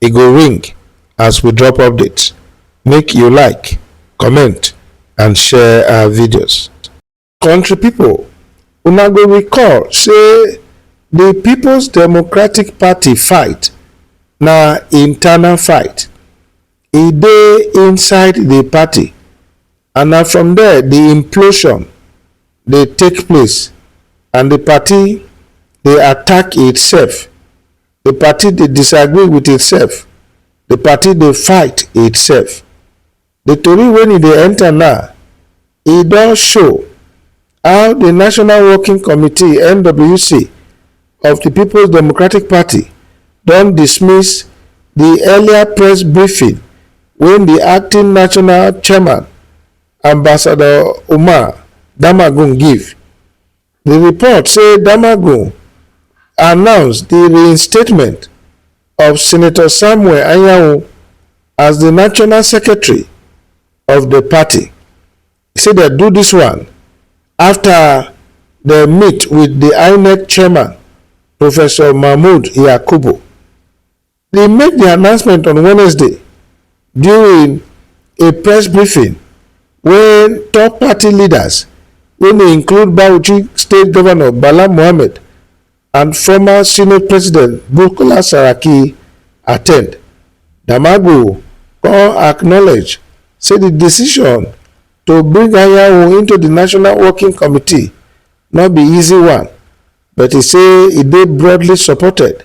e go ring as we drop update make you like comment and share our videos country people, una go recall say the people's democratic party fight na internal fight e dey inside the party and na from there the implosion dey take place and the party dey attack itself The party dey disagree with itself, the party dey fight itself. The tori wen e dey enter now, e don show how the National Working Committee, NWC, of the Peoples Democratic Party don dismiss the earlier press briefing wen the acting national chairman, Ambassador Umar Damagum give. Di report say Damagum announce di reinstatement of Senator Samuel Anyanwu as di national secretary of di party. E say dem do dis one afta dem meet wit di Inec chairman, Professor Mahmood Yakubu. He make di announcement on Wednesday during a press briefing wen top party leaders wey dey include Bauchi State Governor Bala Mohammed and former Senate President Bukola Saraki attend. Damaghu come acknowledge say di decision to bring Anyanwu into di National Working Committee no be easy one, but e say e dey broadly supported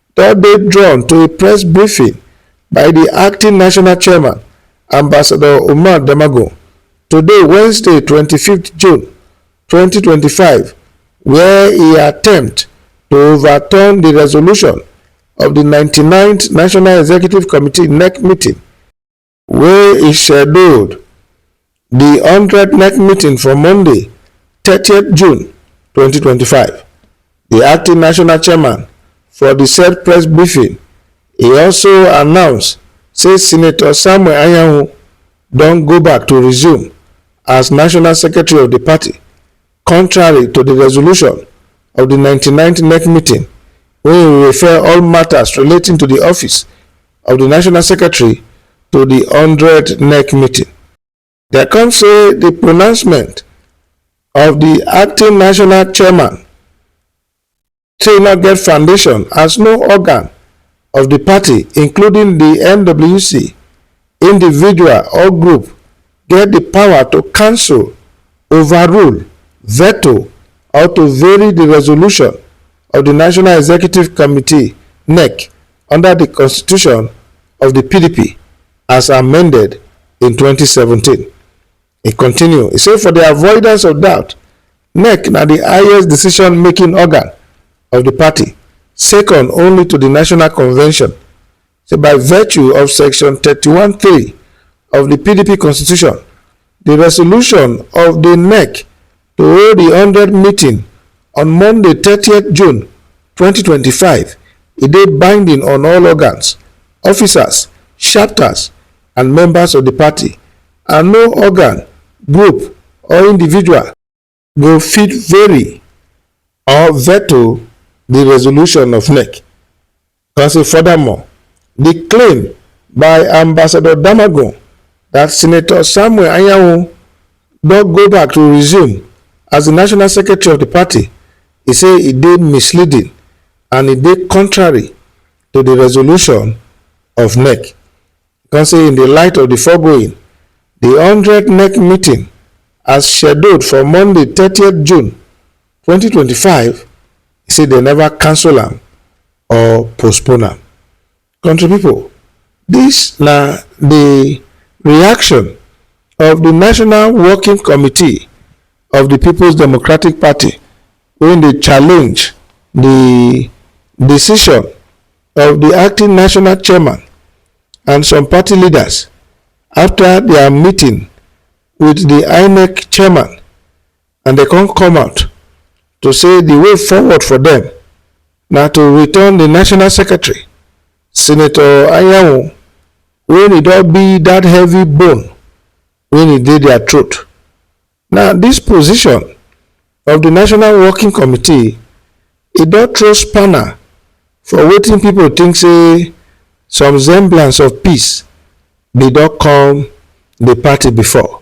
don dey drawn to a press briefing by di acting national chairman, Ambassador Umar Damagum, today Wednesday twenty five June twenty twenty five wia e attempt to overturn di resolution of di ninety nine th National Executive Committee, NEC, meeting. wey e scheduled di hundred nec meeting for monday thirty june twenty twenty five di acting national chairman for di said press briefing e also announce say senator samuel anyanwu don go back to resume as national secretary of di party Contrary to di resolution of di ninety ninth NEC meeting wey refer all matters relating to di office of di National Secretary to di one hundred NEC meeting. Dem come say di pronouncement of di acting national chairman say e no get foundation as no organ of di party including di nwc individual or group get di power to cancel overrule veto or to vary di resolution of di national executive committee nec under di constitution of di pdp as amended in 2017 E continue, e say for di avoidance of doubt, nec na di highest decision-making organ of di party, second only to di National Convention, say by virtue of section thirty one three of di pdp constitution, di resolution of di nec, To hold di hundred meeting on Monday thirty June twenty twenty five, e dey binding on all organs, officers, chapters and members of di party and no organ, group or individual go fit vary or veto di resolution of nec. Can say furthermore, the claim by Ambassador Damagun that Senator Samuel Anyanwu don go back to resume as the national secretary of the party, he say e dey misleading and e dey contrary to the resolution of NEC. He come say in the light of the foregoing, the 100 NEC meeting as scheduled for Monday 30th June 2025 e say dem neva cancel am or postpone am. Kontri pipo, dis na di reaction of di National Working Committee of di Peoples Democratic Party wey dey challenge di decision of di acting national chairman and some party leaders afta dia meeting wit di inec chairman. and dem come come out to say the way forward for them na to return the national secretary senator anyanwu when e don be that heavy bone when e dey their throat now this position of the national working committee e don throw spanner for wetin people think say some semblance of peace bin don come the party before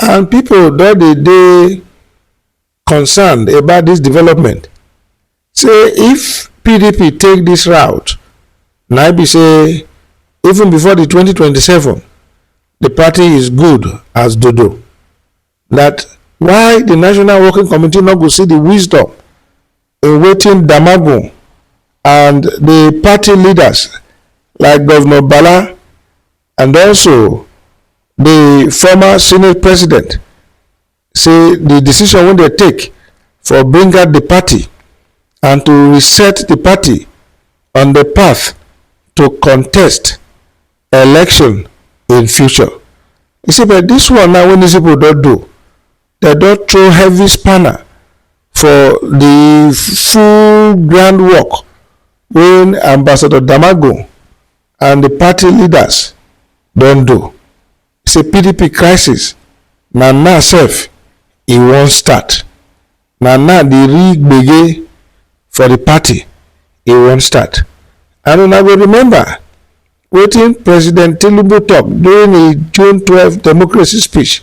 And people don dey dey concerned about this development. Say if PDP take this route, na be say even before the 2027, the party is good as dodo. That why the National Working Committee no go see the wisdom in waiting Damagun and the party leaders like Governor Bala and also the former senate president say the decision wey dem take for bring out the party and to reset the party on the path to contest election in future e say but this one now wey these people don do dem don throw heavy spanner for the full groundwork wey ambassador damagun and di party leaders don do say pdp crisis na now sef e wan start na now di real gbege for di party e wan start and una go remember wetin president tinubu tok during im june twelve democracy speech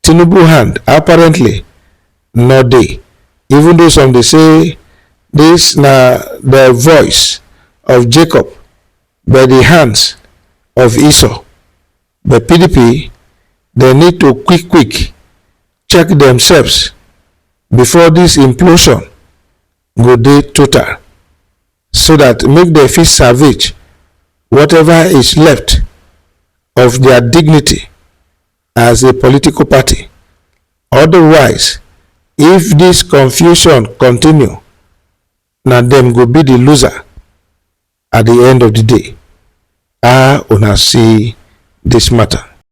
Tinubu hand apparently no dey even though some dey say dis na the voice of Jacob but the hands of Esau but pdp dem need to quick quick check themselves before dis implosion go dey total so dat make dem fit salvage whatever is left of their dignity as a political party. Otherwise, if this confusion continue, na dem go be the loser at the end of the day. Ah, una see this matter.